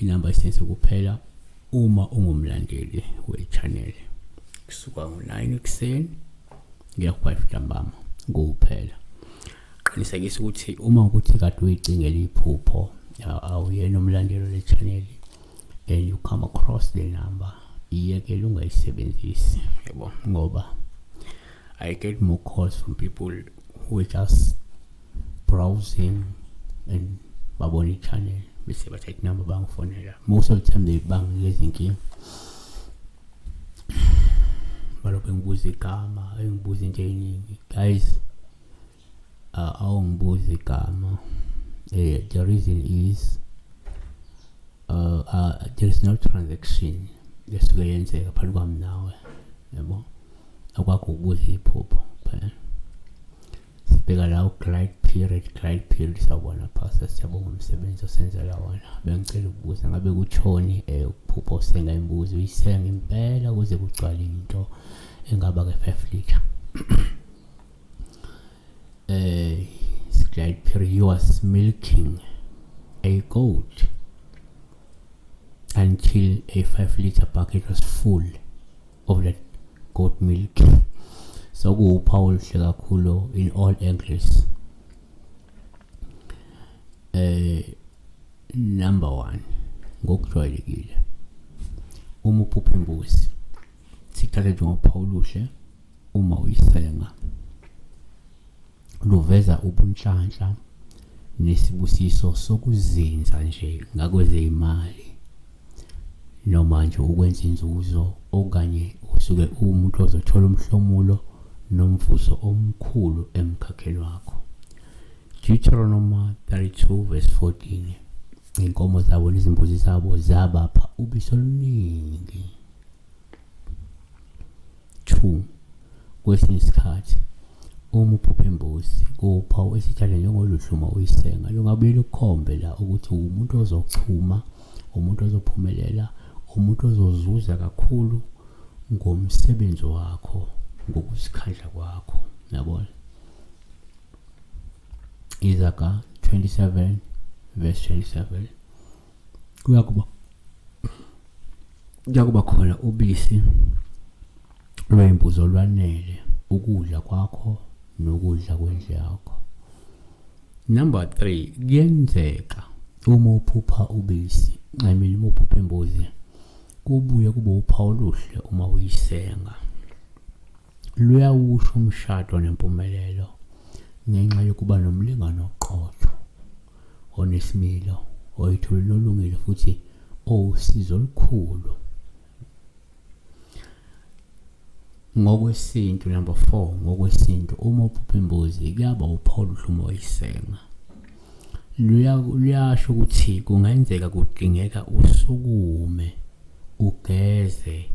inamba sense kuphela uma ungumlandeli we-channel kusuka ngo-9 ekuseni ngiya ku-5 ntambama kuphela qinisekisa ukuthi uma ukuthi kade uyicingela iphupho awuyena umlandeli le-channel and you come across the number iyekele ungayisebenzisi yebo ngoba i get more calls from people who just browsing and babona i-channel bese bathatha inamba bangifonela most of the time they banginika izinkinga balokhu engibuza igama engibuza into eyiningi guys uh, awungibuza igama uh, the reason is uh, uh, there is no transaction esuke yenzeka phakathi kwami nawe yabo akwakho ukubuza iphupho kuphela sibheka la uglide period glide period sawubona pastor siyabonga umsebenzi osenzela wona bengicela ukubuza ngabe kuthoni um eh, ukuphupha usenga imbuzi uyisenga impela kuze kugcwale into engaba ke five liter um glide period you was milking a goat until a five liter bucket was full of that goat milk so kuwuphawu oluhle kakhulu in all angles eh number 1 ngokujwayelekile uma uphupha imbuzi sithathe njengophawu oluhle uma uyisenga luveza ubunhlanhla nesibusiso sokuzinza nje ngakwezeyimali noma nje ukwenza inzuzo okanye usuke uwumuntu ozothola umhlomulo nomvuzo omkhulu emkhakheni wakho Deuteronomy 32 verse 14 inkomo zabo nezimbuzi zabo zabapha ubiso oluningi 2 kwesinye isikhathi uma uphupha imbuzi kuwuphawu esitshale njengoluhluma uyisenga lungabuye lukhombe la ukuthi umuntu ozochuma umuntu ozophumelela umuntu ozozuza kakhulu ngomsebenzi wakho ngokuzikhandla kwakho yabona izaga 27 verse 27 kuyakuba kuyakuba khona ubisi lwembuzi olwanele ukudla kwakho nokudla kwendle yakho number 3 kuyenzeka uma uphupha ubisi nxemile uma uphupha imbuzi kubuye kube uphawu oluhle uma uyisenga luyawusho umshado nempumelelo ngenxa yokuba nomlingano oqotho onesimilo oyithulile olungile futhi owusizo olukhulu ngokwesintu number 4 ngokwesintu uma uphupha imbuzi kuyaba upholo uhlumo oyisenga luyasho ukuthi kungenzeka kudingeka usukume ugeze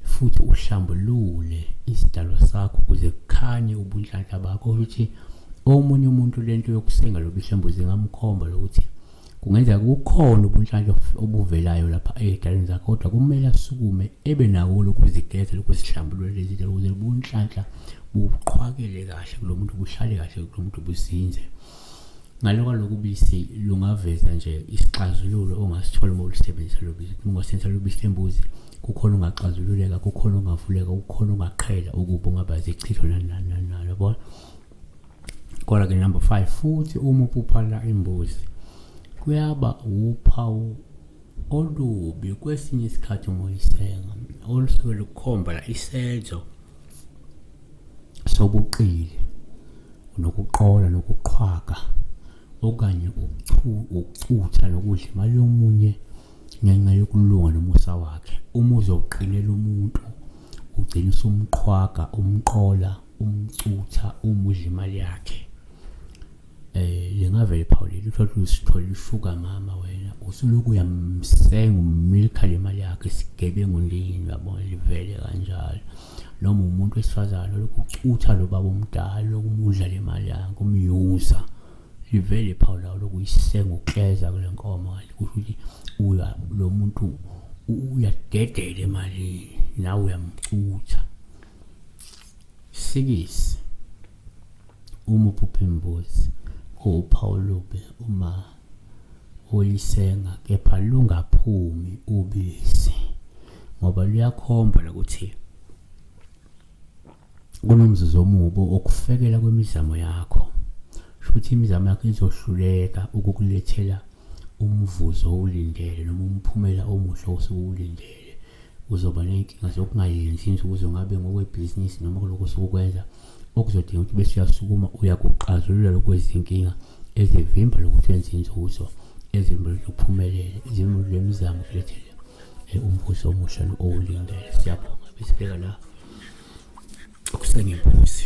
futhi uhlambulule isidalwa sakho kuze kukhanye ubunhlanhla bakho ukuthi omunye umuntu lento yokusenga lobuhlambu zingamkhomba lokuthi kungenzeka kukhona ubunhlanhla obuvelayo lapha ey'dalweni zakho kodwa kumele asukume ebe nawo lokuzigeza lokuzihlambulula lezi ndlela ukuze ubunhlanhla buqhwakele kahle kulo muntu buhlale kahle kulo muntu buzinze Ngalo kwaloku bisi lungaveza nje isixazululo ongasithola uma ulisebenzisa lo bisi. Uma ungasebenzisa lo bisi lembuzi kukhona ungaxazululeka, kukhona ungavuleka, kukhona ungaqhela ukuba ungaba zichitho nani nani nani nani yabona. Kodwa ke number 5 futhi uma upuphala imbuzi kuyaba uphawu olubi kwesinye isikhathi uma uyisenga olusuke lukhomba la isenzo sobuqili nokuqola nokuqhwaga okanye ukuchutha nokudla imali yomunye ngenxa yokulunga nomusa wakhe uma uzoqinela umuntu ugcina usumqhwaga umqola umcutha umudla imali yakhe Eh lingavele iphawulile uthole usithole usuka mama wena usuloku uyamsenga umilkha le mali yakhe isigebengu ndini uyabona livele kanjalo noma umuntu wesifazane lokhu ucutha lo baba omdala lokumudla le mali yakhe umyuza livele iphawula lawo lokuyisenga ukleza kule nkomo kanti kusho ukuthi uya lo muntu uyadedela emalini nawe uyamcutha sikisi uma uphupha imbuzi kuwuphawu olubi uma ulisenga kepha lungaphumi ubisi ngoba luyakhomba lokuthi kunomzuzu omubi okufekela kwemizamo yakho shuthi imizamo yakho izohluleka ukukulethela umvuzo owulindele noma umphumela omuhle osuke uwulindele uzoba ney'nkinga zokungayenzi inzuzo ngabe ngokwebhizinisi noma kulokho osukwenza okuzodinga ukuthi bese uyasukuma uya kuxazulula lokwezinkinga ezivimba lokuthi wenze inzuzo ezimbulu zokuphumelela izimbulu zemizamo kulethele eh, umbuso omusha owulindele siyabonga besibheka la okusengembusi